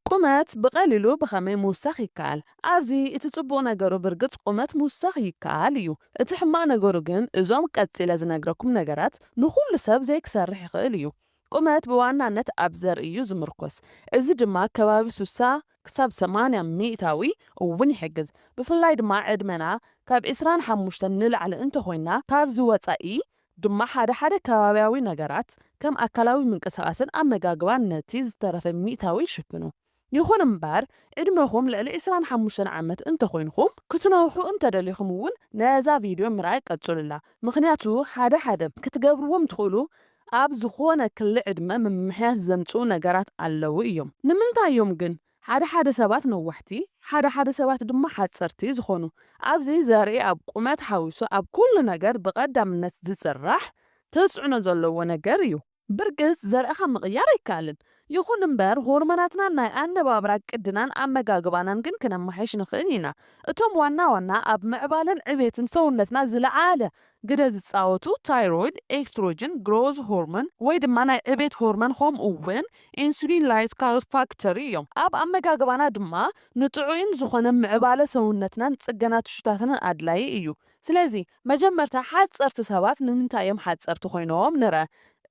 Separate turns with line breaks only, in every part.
ቁመት ብቐሊሉ ብኸመይ ምውሳኽ ይከኣል? ኣብዚ እቲ ጽቡቕ ነገሩ ብርግጽ ቁመት ምውሳኽ ይከኣል እዩ። እቲ ሕማቕ ነገሩ ግን እዞም ቀጺለ ዝነግረኩም ነገራት ንኹሉ ሰብ ዘይክሰርሕ ይኽእል እዩ። ቁመት ብዋናነት ኣብ ዘርኢ እዩ ዝምርኮስ፣ እዚ ድማ ከባቢ ስሳ ክሳብ ሰማንያ ሚእታዊ እውን ይሕግዝ። ብፍላይ ድማ ዕድመና ካብ ዕስራን ሓሙሽተን ንላዕሊ እንተኾይንና ካብዚ ወጻኢ ድማ ሓደ ሓደ ከባብያዊ ነገራት ከም ኣካላዊ ምንቅስቓስን ኣመጋግባን ነቲ ዝተረፈ ሚእታዊ ይሽፍኑ። ይኹን እምበር ዕድመኹም ልዕሊ ዕስራን ሓሙሽተን ዓመት እንተኾይንኩም ክትነውሑ እንተደሊኹም እውን ነዛ ቪድዮ ምርኣይ ቀጽሉላ ምኽንያቱ ሓደ ሓደ ክትገብርዎም ትኽእሉ ኣብ ዝኾነ ክሊ ዕድመ ምምሕያሽ ዘምጽኡ ነገራት ኣለዉ እዮም ንምንታይ እዮም ግን ሓደ ሓደ ሰባት ነዋሕቲ ሓደ ሓደ ሰባት ድማ ሓጸርቲ ዝኾኑ ኣብዚ ዘርኢ ኣብ ቁመት ሓዊሱ ኣብ ኩሉ ነገር ብቀዳምነት ዝጽራሕ ተጽዕኖ ዘለዎ ነገር እዩ። ብርግጽ ዘርእኻ ምቕያር ኣይከኣልን ይኹን እምበር ሆርሞናትናን ናይ ኣነባብራ ቅድናን ኣመጋግባናን ግን ክነማሕይሽ ንኽእል ኢና። እቶም ዋና ዋና ኣብ ምዕባለን ዕቤትን ሰውነትና ዝለዓለ ግደ ዝጻወቱ ታይሮይድ፣ ኤስትሮጅን፣ ግሮዝ ሆርሞን ወይ ድማ ናይ ዕቤት ሆርሞን ኾምኡ ውን ኢንሱሊን ላይትካል ፋክተር እዮም። ኣብ ኣመጋግባና ድማ ንጥዑይን ዝኾነ ምዕባለ ሰውነትናን ጽገና ቲሹታትናን ኣድላዪ እዩ። ስለዚ መጀመርታ ሓጸርቲ ሰባት ንምንታይ እዮም ሓጸርቲ ኮይኖም ንርኣ።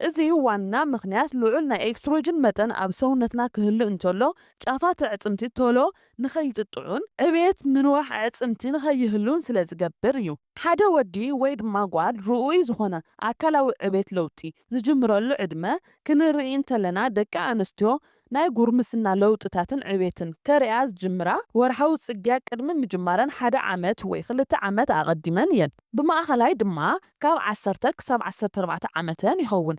እዚ ዋና ምኽንያት ልዑል ናይ ኤስትሮጅን መጠን ኣብ ሰውነትና ክህሉ እንተሎ ጫፋት ኣዕጽምቲ ቶሎ ንኸይጥጥዑን ዕብየት ምንዋሕ ኣዕጽምቲ ንኸይህሉን ስለ ዝገብር እዩ። ሓደ ወዲ ወይ ድማ ጓል ርኡይ ዝኾነ ኣካላዊ ዕብየት ለውጢ ዝጅምረሉ ዕድመ ክንርኢ እንተለና ደቂ ኣንስትዮ ናይ ጉርምስና ለውጥታትን ዕብየትን ከርእያ ዝጅምራ ወርሓዊ ጽግያ ቅድሚ ምጅማረን ሓደ ዓመት ወይ ክልተ ዓመት ኣቐዲመን እየን። ብማእከላይ ድማ ካብ ዓሰርተ ክሳብ ዓሰርተ ኣርባዕተ ዓመተን ይኸውን።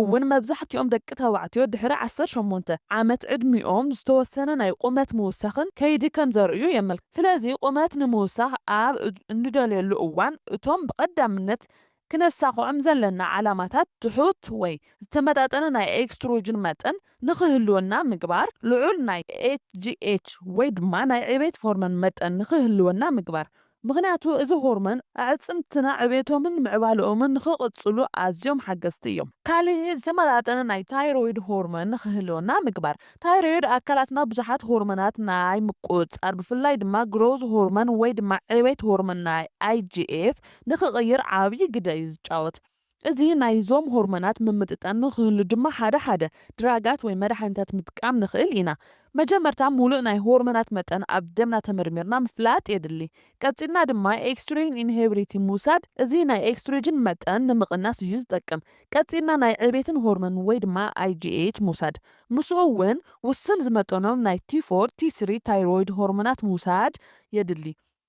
እውን መብዛሕትኦም ደቂ ተባዕትዮ ድሕሪ ዓሰርተ ሸሞንተ ዓመት ዕድሚኦም ዝተወሰነ ናይ ቁመት ምውሳኽን ከይዲ ከም ዘርእዩ የመልክት። ስለዚ ቁመት ንምውሳኽ ኣብ እንደልየሉ እዋን እቶም ብቐዳምነት ክነሳኽዖም ዘለና ዓላማታት ትሑት ወይ ዝተመጣጠነ ናይ ኤክስትሮጅን መጠን ንክህልወና ምግባር፣ ልዑል ናይ ኤችጂኤች ወይ ድማ ናይ ዕቤት ሆርሞን መጠን ንክህልወና ምግባር፣ ምኽንያቱ እዚ ሆርሞን ኣዕፅምትና ዕቤቶምን ምዕባለኦምን ንኽቕፅሉ ኣዝዮም ሓገዝቲ እዮም። ካሊእ ዝተመጣጠነ ናይ ታይሮይድ ሆርሞን ንኽህልወና ምግባር። ታይሮይድ ኣካላትና ብዙሓት ሆርሞናት ናይ ምቁፅፃር ብፍላይ ድማ ግሮዝ ሆርሞን ወይ ድማ ዕቤት ሆርሞን ናይ IGF ንኽቕይር ዓብዪ ግደ እዩ ዝጫወት። እዚ ናይ ዞም ሆርሞናት ምምጥጣን ንክህሉ ድማ ሓደ ሓደ ድራጋት ወይ መዳሓኒታት ምጥቃም ንክእል ኢና። መጀመርታ ሙሉእ ናይ ሆርሞናት መጠን ኣብ ደምና ተመርሚርና ምፍላጥ የድሊ። ቀጺልና ድማ ኤክስትሮጂን ኢንሄብሪቲ ምውሳድ እዚ ናይ ኤክስትሮጂን መጠን ንምቕናስ እዩ ዝጠቅም። ቀጺልና ናይ ዕቤትን ሆርሞን ወይ ድማ IGH ምውሳድ። ምስኡ እውን ውሱን ዝመጠኖም ናይ ቲፎር፣ ቲስሪ፣ ታይሮይድ ሆርሞናት ምውሳድ የድሊ።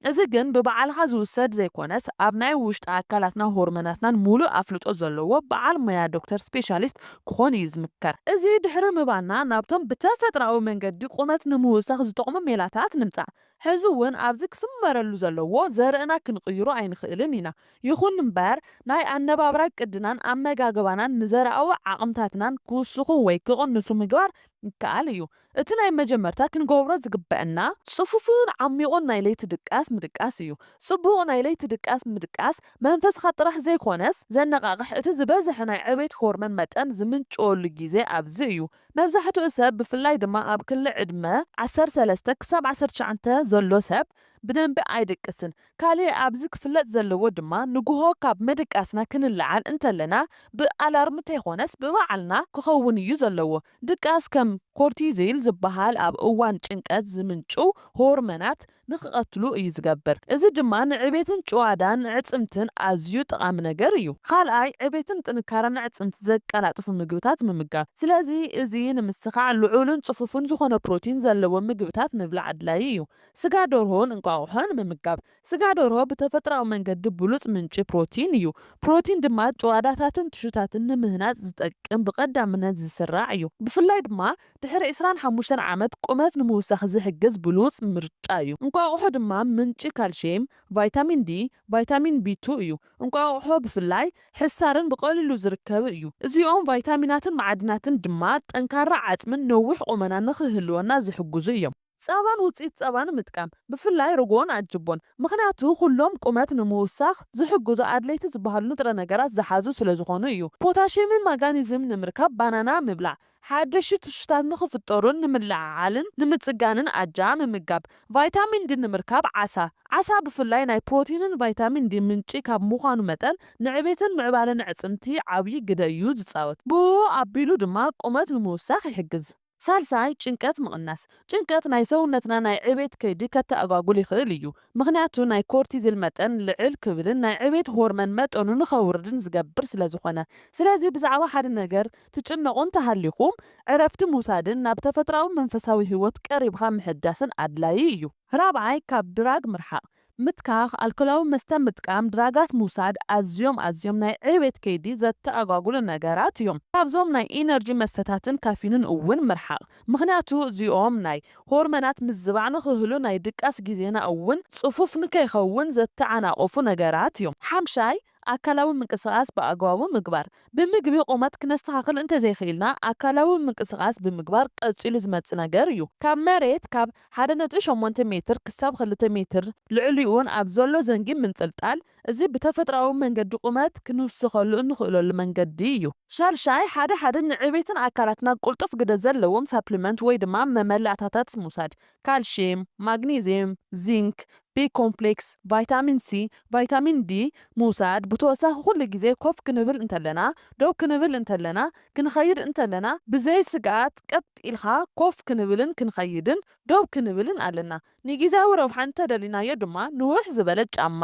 እዚ ግን ብባዕልኻ ዝውሰድ ዘይኮነስ ኣብ ናይ ውሽጢ ኣካላትናን ሆርመናትናን ሙሉእ ኣፍልጦ ዘለዎ በዓል ሞያ ዶክተር ስፔሻሊስት ክኾን እዩ ዝምከር። እዚ ድሕሪ ምባልና ናብቶም ብተፈጥራዊ መንገዲ ቁመት ንምውሳኽ ዝጠቕሙ ሜላታት ንምፃእ። ሕዚ እውን ኣብዚ ክስመረሉ ዘለዎ ዘርእና ክንቕይሮ ኣይንኽእልን ኢና። ይኹን እምበር ናይ ኣነባብራ ቅድናን ኣመጋግባናን ንዘርኣዊ ዓቕምታትናን ክውስኹ ወይ ክቕንሱ ምግባር ይከኣል እዩ። እቲ ናይ መጀመርታ ክንገብሮ ዝግበእና ጽፉፍን ዓሚቝን ናይ ለይቲ ድቃስ ምድቃስ እዩ። ጽቡቕ ናይ ለይቲ ድቃስ ምድቃስ መንፈስካ ጥራሕ ዘይኮነስ ዘነቓቕሕ እቲ ዝበዝሐ ናይ ዕቤት ሆርመን መጠን ዝምንጭወሉ ግዜ ኣብዚ እዩ። መብዛሕትኡ ሰብ ብፍላይ ድማ ኣብ ክሊ ዕድመ ዓሰርተ ሰለስተ ክሳብ ዓሰርተ ትሽዓተ ዘሎ ሰብ ብደንቢ ኣይድቅስን። ካልእ ኣብዚ ክፍለጥ ዘለዎ ድማ ንጉሆ ካብ ምድቃስና ክንለዓል እንተለና ብኣላርም እንተይኮነስ ብባዕልና ክኸውን እዩ ዘለዎ። ድቃስ ከም ኮርቲዚል ዝበሃል ኣብ እዋን ጭንቀት ዝምንጩ ሆርመናት ንክቐትሉ እዩ ዝገብር። እዚ ድማ ንዕቤትን ጭዋዳን ኣዕጽምትን ኣዝዩ ጠቓሚ ነገር እዩ። ኻልኣይ፣ ዕቤትን ጥንካረን ኣዕጽምቲ ዘቀላጥፉ ምግብታት ምምጋብ። ስለዚ እዚ ንምስኻዕ ልዑልን ጽፉፍን ዝኾነ ፕሮቲን ዘለዎም ምግብታት ምብላዕ ኣድላዪ እዩ። ስጋ ደርሆን እንቋቑሖን ምምጋብ ስጋ ደርሆ ብተፈጥሮኣዊ መንገዲ ብሉጽ ምንጪ ፕሮቲን እዩ። ፕሮቲን ድማ ጭዋዳታትን ቲሹታትን ንምህናጽ ዝጠቅም ብቐዳምነት ዝስራዕ እዩ። ብፍላይ ድማ ድሕሪ ዕስራን ሓሙሽተን ዓመት ቁመት ንምውሳኽ ዝሕግዝ ብሉጽ ምርጫ እዩ። እንቋቑሖ ድማ ምንጪ ካልሽየም፣ ቫይታሚን ዲ፣ ቫይታሚን ቢ ቱ እዩ። እንቋቑሖ ብፍላይ ሕሳርን ብቐሊሉ ዝርከብን እዩ። እዚኦም ቫይታሚናትን መዓድናትን ድማ ጠንካራ ዓጽምን ነዊሕ ቁመናን ንኽህልወና ዝሕግዙ እዮም። ጸባን ውጽኢት ጸባን ምጥቃም፣ ብፍላይ ርጎን ኣጅቦን፣ ምኽንያቱ ኩሎም ቁመት ንምውሳኽ ዝሕግዙ ኣድለይቲ ዝበሃሉ ንጥረ ነገራት ዝሓዙ ስለዝኾኑ እዩ። ፖታሽየምን ማጋኒዝም ንምርካብ ባናና ምብላዕ፣ ሓደሽቲ ትሹታት ንኽፍጠሩን ንምልዕዓልን ንምጽጋንን ኣጃ ምምጋብ፣ ቫይታሚን ዲ ንምርካብ ዓሳ፣ ዓሳ ብፍላይ ናይ ፕሮቲንን ቫይታሚን ዲ ምንጪ ካብ ምዃኑ መጠን ንዕቤትን ምዕባለን ኣዕጽምቲ ዓብዪ ግደ እዩ ዝጻወት። ብኡ ኣቢሉ ድማ ቁመት ንምውሳኽ ይሕግዝ። ሳልሳይ፣ ጭንቀት ምቕናስ። ጭንቀት ናይ ሰውነትና ናይ ዕቤት ከይዲ ከተኣጓጉል ይኽእል እዩ። ምኽንያቱ ናይ ኮርቲዝል መጠን ልዕል ክብልን ናይ ዕቤት ሆርመን መጠኑ ንኸውርድን ዝገብር ስለዝኾነ። ስለዚ ብዛዕባ ሓደ ነገር ትጭነቑ እንተሃሊኹም ዕረፍቲ ምውሳድን ናብ ተፈጥሮኣዊ መንፈሳዊ ህይወት ቀሪብኻ ምሕዳስን ኣድላዪ እዩ። ራብዓይ፣ ካብ ድራግ ምርሓቕ። ምትካኽ ኣልኮላዊ መስተ ምጥቃም ድራጋት ምውሳድ ኣዝዮም ኣዝዮም ናይ ዕቤት ከይዲ ዘተኣጓጉሉ ነገራት እዮም። ካብዞም ናይ ኢነርጂ መስተታትን ካፊንን እውን ምርሓቕ ምኽንያቱ እዚኦም ናይ ሆርመናት ምዝባዕ ንኽህሉ ናይ ድቃስ ጊዜና እውን ፅፉፍ ንከይኸውን ዘተዓናቕፉ ነገራት እዮም። ሓምሻይ፣ ኣካላዊ ምንቅስቓስ ብኣግባቡ ምግባር። ብምግቢ ቁመት ክነስተኻኽል እንተዘይክኢልና ኣካላዊ ምንቅስቓስ ብምግባር ቀፂሉ ዝመፅእ ነገር እዩ። ካብ መሬት ካብ ሓደ ነጥቢ ሸሞንተ ሜትር ክሳብ ክልተ ሜትር ልዕሊኡን ኣብ ዘሎ ዘንጊ ምንጥልጣል። እዚ ብተፈጥሮኣዊ መንገዲ ቁመት ክንውስኸሉ እንኽእለሉ መንገዲ እዩ። ሻድሻይ፣ ሓደ ሓደ ንዕቤትን ኣካላትና ቅልጡፍ ግደ ዘለዎም ሳፕሊመንት ወይ ድማ መመላእታታት ምውሳድ። ካልሽየም፣ ማግኔዝየም፣ ዚንክ፣ ቢ ኮምፕሌክስ፣ ቫይታሚን ሲ፣ ቫይታሚን ዲ ምውሳድ ብተወሳኺ ኩሉ ግዜ ኮፍ ክንብል እንተለና፣ ደው ክንብል እንተለና፣ ክንኸይድ እንተለና ብዘይ ስግኣት ቀጥ ኢልካ ኮፍ ክንብልን ክንኸይድን ደው ክንብልን ኣለና። ንጊዚያዊ ረብሓ እንተደሊናዮ ድማ ንውሕ ዝበለ ጫማ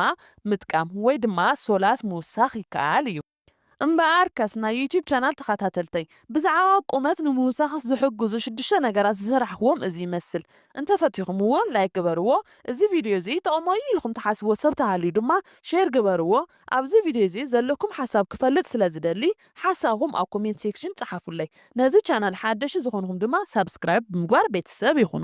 ምጥቃም ወይ ድማ ሶላት ምውሳኽ ይከኣል እዩ። እምበኣርከስ ናይ ዩቱብ ቻናል ተኻታተልተይ ብዛዕባ ቁመት ንምውሳኽ ዝሕግዙ ሽዱሽተ ነገራት ዝሰራሕክዎም እዚ ይመስል እንተፈቲኹምዎ ላይክ ግበርዎ እዚ ቪድዮ እዚ ይጠቕሞ እዩ ኢልኩም ትሓስብዎ ሰብ ተሃልዩ ድማ ሼር ግበርዎ ኣብዚ ቪድዮ እዚ ዘለኩም ሓሳብ ክፈልጥ ስለ ዝደሊ ሓሳብኹም ኣብ ኮሜንት ሴክሽን ጸሓፉለይ ነዚ ቻናል ሓደሽቲ ዝኾንኹም ድማ ሳብስክራይብ ብምግባር ቤተሰብ ይኹኑ።